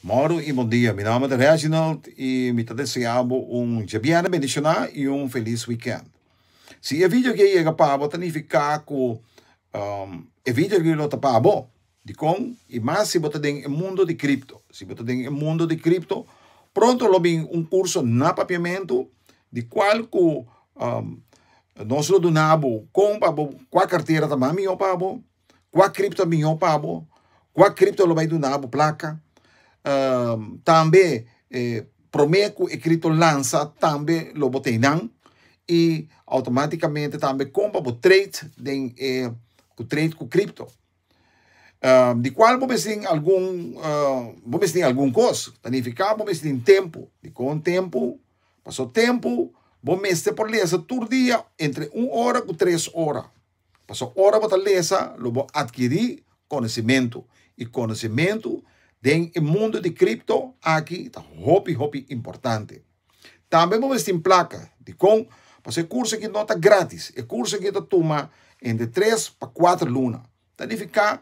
Morning y bon dia mi nomber ta Reginald y mi ta desea bo un djabierne bendiciona y un feliz weekend si e video aki a yega pa bo ta nifica cu e video aki lo ta pa bo dicon y mas si bo ta den e mundo di cripto si bo ta den e mundo di cripto pronto lo bin un curso na papiamento di cual cu nos lo duna bo con pa bo cua cartera ta mas miyor pa bo Kua kripto a mihó pa bo, kua kripto lo bai duna bo plaka, tambe promé ku e kripto lansa tambe lo bo tei nan i outomaticamente tambe kon pa bo trade den e ku trade ku kripto di kual bo mes tin algun bo mes tin algun kos ta nifiká bo mes tin tempu, dikon tempu? Pasobra tempu bo mester por lesa tur dia entre un ora ku tres ora Pasobra ora bo ta lesa, lo bo adkirí konosimentu, i konosimentu den e mundu di kripto aki ta hopi hopi importante. Tambe bo mester tin plaka. Dikon? Pasobra e kurso aki no ta grátis. E kurso aki ta tuma entre tres pa kuater luna. Ta nifiká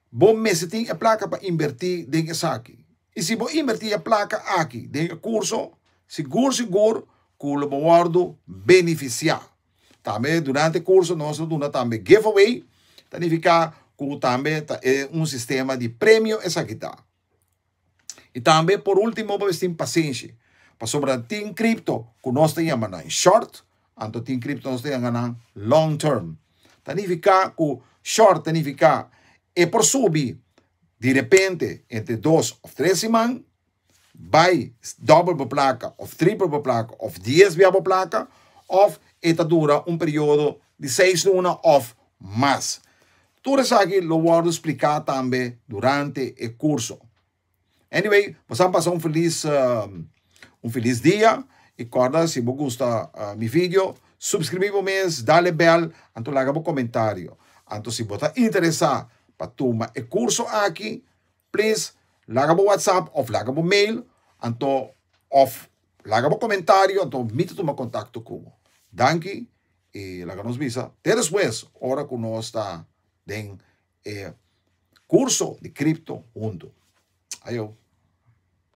bo mester tin e plaka pa inbertí den esaki. I si bo inbertí e plaka aki den e kurso, sigur sigur ku lo bo wòrdu benefisiá. Tambe durante kurso nos ta duna tambe giveaway, ta nifiká ku tambe ta e un sistema di premio esaki ta. I tambe por último bo mester tin pasenshi, pasobra tin kripto ku nos ta yama nan short, anto tin kripto ku nos ta yama nan long term. Ta nifiká ku short ta nifiká e por subi direpente entre dos òf tres siman, bai doble bo plaka of triple bo plaka of dies bia bo plaka of e ta dura un periodo di seis luna of mas. Tur esaki lo wordo splika tambe durante e curso. Anyway bo sa pasa un feliz un feliz dia y corda si bo gusta mi video subscribi bo mes dale bel anto laga bo comentario anto si bo ta interesa pa tuma e curso aki Please laga bo WhatsApp of laga bo mail anto of laga bo comentario anto mi ta tuma contacto cu bo. Danki y laga nos bisa te despues ora cu nos ta den e curso di crypto hunto. Ayo.